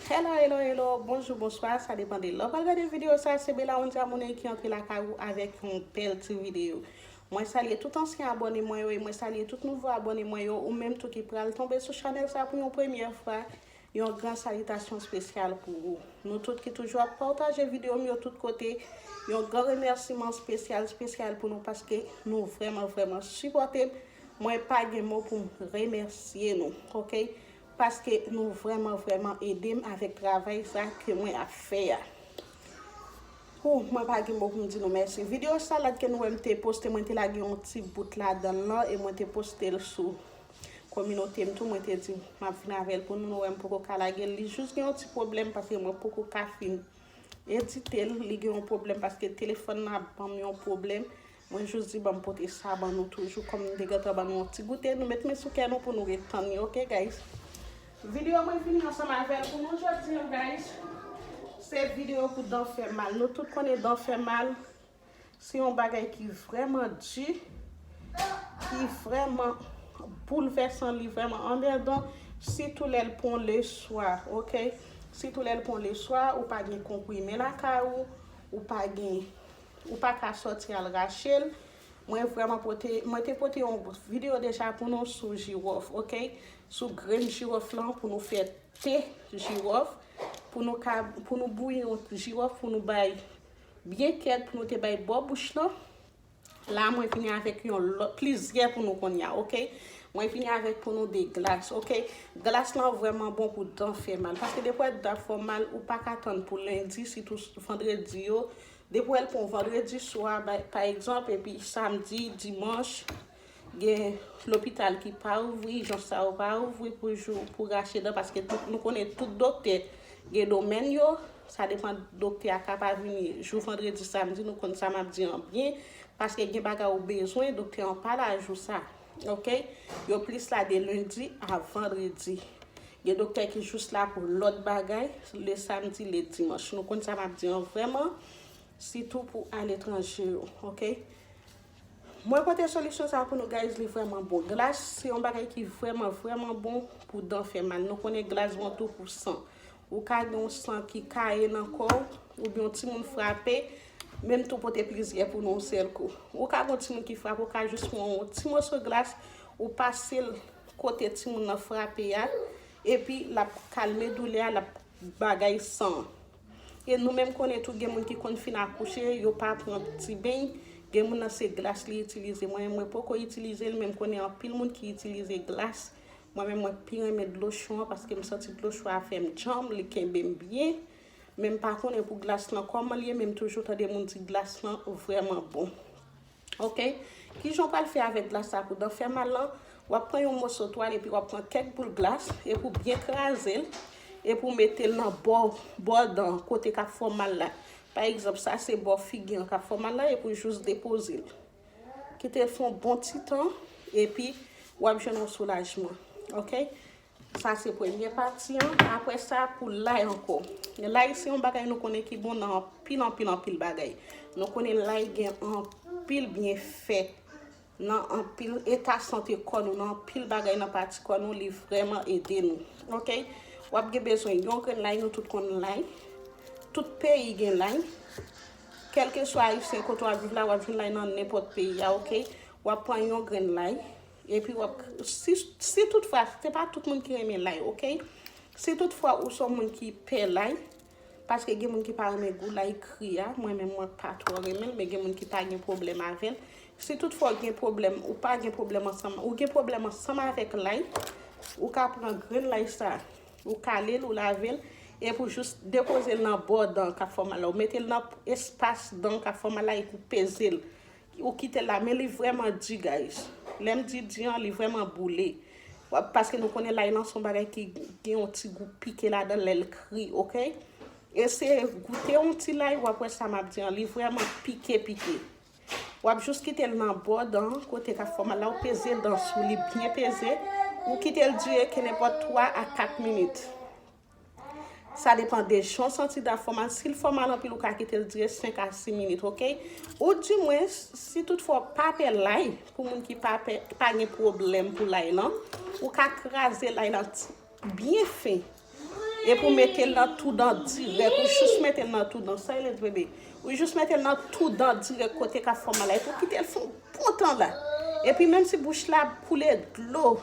Hello hello hello bonjou bonswa sa depan de lè ou pral gade video sa se Belaondia Money ki antre lakay ou avèk yon bèl ti video mwen salye tout ansyen abòne mwen yo e mwen salye tout nouvo abòne mwen yo ou menm tou ki pral tonbe sou chanèl sa pou yon premyè fwa yon gran salitasyon spesyal pou ou nou tout ki toujou ap pataje video m yo tout kote yon gran remèsiman spesyal spesyal pou nou paske nou vrèman vrèman sipòte m mwen pa gen mo pou m remèsye nou ok Paske nou vreman vreman edem avek travay sa ke mwen ap fe a. Hoo mwen pa gen mo poum di nou mèsi. Video salad ke nou wè mte poste mwen te lage yon ti bout ladanl lan e mwen te postel sou kominotem tou mwen te di map vin avèl pou nou nou wèm poko ka lagel li jus gen yon ti pwoblèm paske mwen poko ka fin editel li gen yon pwoblèm paske telefòn nan ap banm yon pwoblèm Mwen jus di banm pote sa ban nou toujou kòm nou te gentan ban nou yon ti goute nou met men sou kè nou pou nou ret tann li ok guys. Video mwen vini ansanm avèl pou nou jodi an guys se video pou dan fè mal nou tout konnen dan fè mal se yon bagay ki vrèman di ki vrèman boulvèsan li vrèman anmèdan sitou lèl pran le swa ok sitou lèl pran le swa ou pa gen konprime lakay ou ou pa gen Ou pa ka sòti al rache l. Mwen vrèman pote, mwen te pote yon video deja pou nou sou jiròf ok, sou grenn jiròf lan pou nou fè te jiròf, pou nou ka, pou nou bouyi yon jiròf pou nou bay byen kèd pou nou te bay bò bouch lan. La mwen vini avèk yon lòt, plizyè pou nou konnya ok. Mwen vini avèk pou nou de glas ok. Glas lan vrèman bon pou dan fè mal. Paske defwa dan ap fè w mal ou pa ka tann pou lendi sitou vandredi yo. Depi w al pran w vandredi swa pa egzanp epi samdi, dimanch gen lopital ki pa ouvri, ijans sa yo pa ouvri pou jou pou rache dan paske nou konnen tout doktè gen domèn yo, sa depan doktè a ka pa vini jou vandredi, samdi nou konn sa m ap di an byen paske gen bagay ou bezwen doktè an pa la jou sa. Ok yo plis la de lundi a vendredi gen doktè ki jous la pou lòt bagay le samedi le dimanche nou konn sa map di an vrèman sitou pou aletranje yo ok mwen pote solisyon sa pou nou guys li vrèman bon glas se yon bagay ki vrèman vrèman bon pou dan fè mal nou konnen glas bon tou pou san Ou ka gen yon san ki kaye nan kò w, oubyen yon timoun frape, menm tou pote plizyè pou nou yon sèl kou. Ou ka gen yon timoun ki frape, ou ka jis pran yon ti moso glas, ou pase l kote timoun nan frape a, epi l ap kalme doulè a, l ap bagay san an. E nou menm konnen tou gen moun ki konn fin akouche, yo pa pran ti beny, gen moun nan se glas li itilize. Mwen menm mwen poko itilize l, men m konnen anpil moun ki itilize glas Mwen menm mwen pi renmen dlo cho an paske m santi dlo cho a fè m djanm, li kenbe m byen. Men m pa konnen pou glas lan kòman l ye men m toujou tande moun di glas lan vrèman bon. Ok, kijan w pral fè avèk glas sa pou dan fè mal lan? W ap pran yon moso twal epi w ap pran kèk boul glas epi w byen kraze l epi w mete l nan bò, bò dan an, kote k ap fè w mal la. Pa egzanp, sa se bò figi an k ap fè w mal la epi w jis depoze l. Kite fon bon ti tan epi wap jwenn yon soulajman ok. Sa se premye pati an aprè sa pou lay ankò. Lay se yon bagay nou konnen ki bon nan anpil anpil anpil bagay. Nou konnen lay gen anpil byenfè nan anpil eta sante kò nou nan anpil bagay nan pati kò nou li vrèman ede nou ok. Wap gen bezwen yon grenn lay nou tout konnen lay tout peyi gen lay. Kelkeswa ayisyen kote wap viv la wap jwenn lay nan nenpot peyi a ok wap pran yon grenn lay epi wap si tout fwa se pa tout moun ki renmen lay ok si tout fwa ou son moun ki pè lay paske gen moun ki pa renmen gou lay kri a mwen menm mwen pa tro renmenl men gen moun ki pa gen pwoblèm avèl si tout fwa ou gen pwoblèm ou pa gen pwoblèm ansanm ou gen pwoblèm ansanm avèk lay ou ka pran grenn lay sa. Ou kale l, ou lave l, epi ou jis depoze l nan bò dan k ap fè w mal la. Ou mete l nan espas dan k ap fè w mal la epi ou peze l. Ou kite l la. Men li vrèman di guys. Lè m di di an, li vrèman boule. Paske nou konnen lay lan se yon bagay ki gen yon ti gou pike ladan l lè l kri, ok? Eseye goute yon ti lay, w ap wè sa m ap di an. Li vrèman pike pike. Wap jus kitel nan bò dan kote kap fè w mal la ou peze dan sou li byen peze ou kitel dire ke nenpòt 3 a 4 minit sa depan de jan w santi dan fè w mal sil fè w mal anpil ou ka kitel dire 5 a 6 minit ok ou di mwen si tout fwa w pa pè lay pou moun ki pa pè ki pa gen pwoblèm pou lay lan ou ka kraze lay lan Byen fen. Epi w mete l nan tou dan dirèk. Ou jous mete l nan tou dan. Sa rele drenbe. Ou jous mete l nan tou dan dirèk kote ka fè w mal la. Epi w kite l fè yon bon tan la. Epi menm si bouch la ap koule dlo.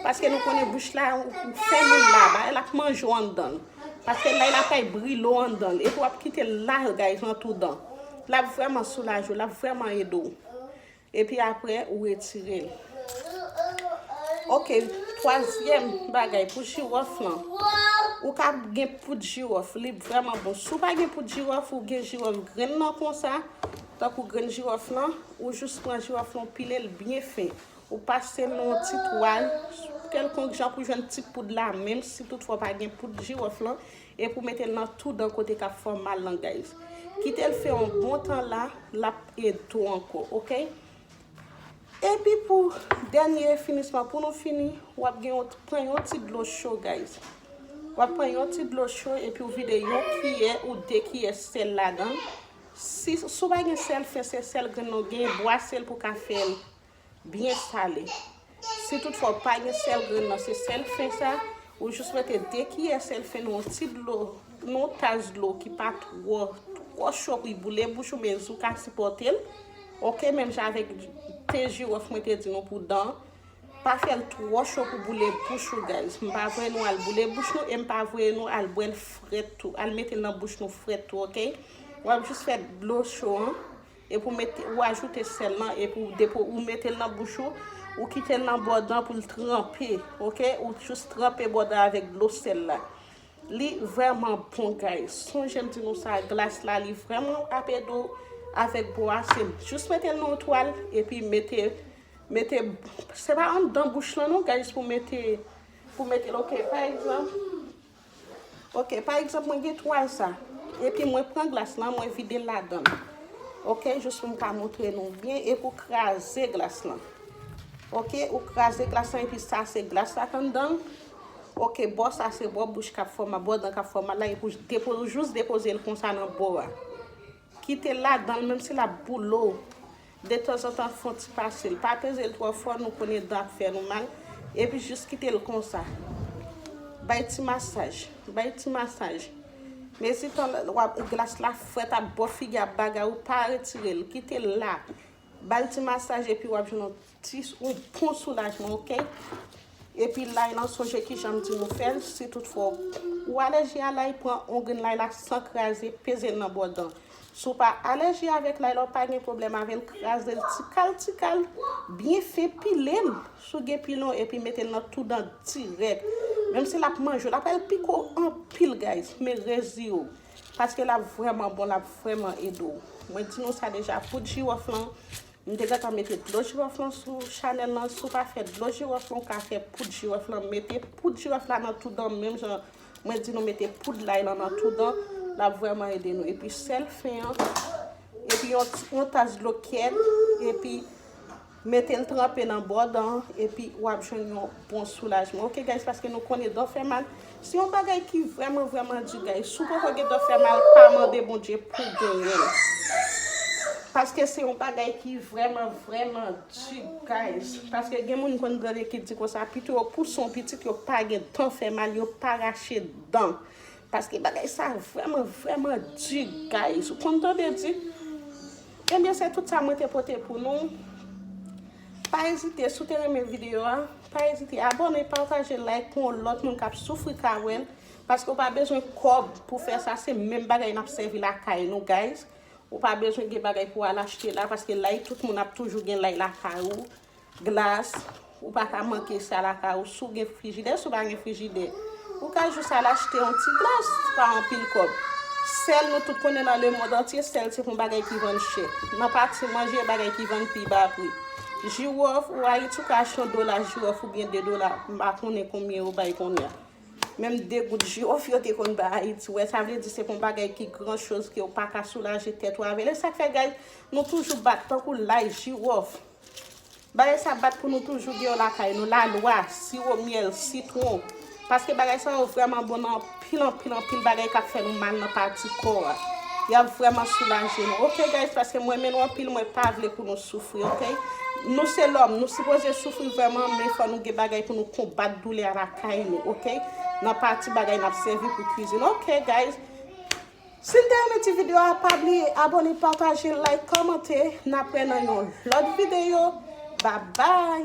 Paske nou konnen bouch la ou fèmen l la. Bagay la ap manje w anndan l. Paske lay la fèy brile w anndan l. Epi w ap kite l la guys nan tou dan. L ap vrèman soulaje w. L ap vrèman ede w. Epi apre ou retirel. Ok twazyèm bagay pou jirof lan. Ou ka gen poud jirof. Li vreman bon. Si ou pa gen poud jirof ou gen jirof grenn nan konsa. Tankou grenn jirof lan. Ou jous pran jirof lan ou pilel byen fen. Ou pase nan yon ti twal. Kelkonk jan pou jwenn ti poud la. Menm si tout fwa ou pa gen poud jirof lan. Epi ou metel nan tou dan kote kap fèw mal lan guys kitel fè yon bon tan la lap ed tou ankò ok epi pou dènye finisman pou nou fini wap gen yon pran yon ti dlo cho guys wap pran yon ti dlo cho epi ou vide yon kiyè ou 2 kiyè sèl ladan si sou pa gen sèl fen se sèl grenn ou gen bwasel pou ka fèl byen sale. Si tout fwa ou pa gen sèl grenn nan se sèl fen sa, ou jis mete 2 kiyè sèl fen nan yon ti dlo, nan yon tas dlo ki pa twò, twò cho pou li boule bouch ou men jou ka sipòte l. Ok, menm jan avèk te jiwòf mwen te di nou pou dan, pa fè l twò cho pou boule bouch ou guys. M pa voye nou al boule bouch nou e m pa voye nou al bwè l frèt tou, al mete l nan bouch nou frèt tou ok. Wap jis fè dlo cho an Epi ou met, ou ajoute sèl lan epi ou depi ou mete l nan bouch ou, ou kite l nan bò dan pou l tranpe, ok, ou jus tranpe bò dan avèk dlo sèl la. Li vrèman bon guys. Sonje m di nou sa, glas la li vrèman ap ede w avèk bo a, se jus mete l nan yon twal epi mete, mete, se pa anndan bouch lan non guys pou mete, pou mete l ok, pa egzanp. Ok pa egzanp mwen gen twal sa. Epi mwen pran glas lan mwen videl ladan. Ok jous poum ka montre nou byen epi ou kraze glas lan. Ok ou kraze glas lan epi sa se glas la kan danl. Ok bò sa se bò bouch kap fè w mal bò dan kap fè w mal la epi ou jous depozel konsa nan bò a. Kite l ladan l menm si l ap boule w. Detanzantan fon ti pase l. Pa peze l twò fò nou konnen dan ap fè nou mal. Epi jis kite l konsa. Bay ti masaj. Bay ti masaj. Mezi tan l wap glas la frèt ap bo figi a ap bagay ou pa retire l. Kite l la. Ba l ti masaj epi w ap jwenn yon. Ti yon bon soulajman ok. Epi lay lan sonje kijan m di w fè l si tout fwa ou alèji a lay pran yon grenn lay la san kraze peze l nan bò dan. Si w pa alèji avèk lay la ou pa gen pwoblèm avè l kraze l ti kal ti kal byen fen pile l sou gen pilon epi mete l nan tou dan dirèk menm si l ap manje w l ap al pike w anpil guys men rezi yo paske l ap vrèman bon l ap vrèman ede w mwen di nou sa deja poud jiwòf lan M te gentan mete dlo jiròf lan sou chanèl lan, si w pa fè dlo jiròf lan w ka fè poud jiròf lan, mete poud jiròf la nan tou dan menm jan mwen di nou mete poud lay lan nan tou dan, l ap vrèman ede nou epi sèl fen an epi yon tas dlo kèt epi mete l tranpe nan bò dan an epi w ap jwenn yon bon soulajman ok guys paske nou konnen dan fè mal Se yon bagay ki vreman vreman di guys. Si w poko gen tan fè mal pa mande Bondye pou w genyen. Paske se yon bagay ki vreman vreman di guys. Paske gen moun konn grande ki di konsa pito yo pouse yon pitit yo pa gen tan fè mal yo pa rache dan. Paske bagay sa vreman vreman di guys. Ou konn tande di. Ebyen se tout sa mwen te pote pou nou. Pa ezite si w te renmen video a, pa ezite abone, pataje, like pou yon lòt moun k ap soufri ka wè l. Paske ou pa bezwen kòb pou fè sa, se menm bagay n ap sèvi lakay nou guys. Ou pa bezwen gen bagay pou al achte la, paske lay tout moun ap toujou gen lay lakay ou. Glas, ou pa ka manke sa lakay ou, si w gen frijidè, si w pa gen frijidè, ou ka jis al achte yon ti glas, se pa anpil kòb. Sèl, nou tout konnen nan lemond antye, sèl se yon bagay ki vann chè. Nan pati manje, bagay ki vann pi ba pri. Jiwòf, ou Ayiti, ou ka achte yon dola jiwòf oubyen de dola, m pa konnen konbyen yo bay kounye a. Menm de goud jiwòf yo te konn bay Ayiti, wè, sa vle di se pa yon bagay ki gran choz ke ou pa ka soulaje tèt ou avè l. E sa k fè, guys, nou toujou bat tankou lay jiwòf. Bagay sa bat pou nou toujou gen yo lakay nou, lalwa, siwo myèl, sitwon. Paske bagay sa yo vrèman bon nan anpil anpil anpil bagay kap fè nou mal nan pati kò a. Yap vrèman soulaje nou. Ok guys paske mwen renmen nou anpil mwen pa vle pou nou soufri ok. Nou se lòm nou sipoze soufri vrèman men fò nou gen bagay pou nou konbat doulè a lakay nou ok. Nan pati bagay nap sèvi pou kwizin ok guys. Sin te renmen ti video a pa bliye abone pataje like kòmante napre nan yon lòt video babay.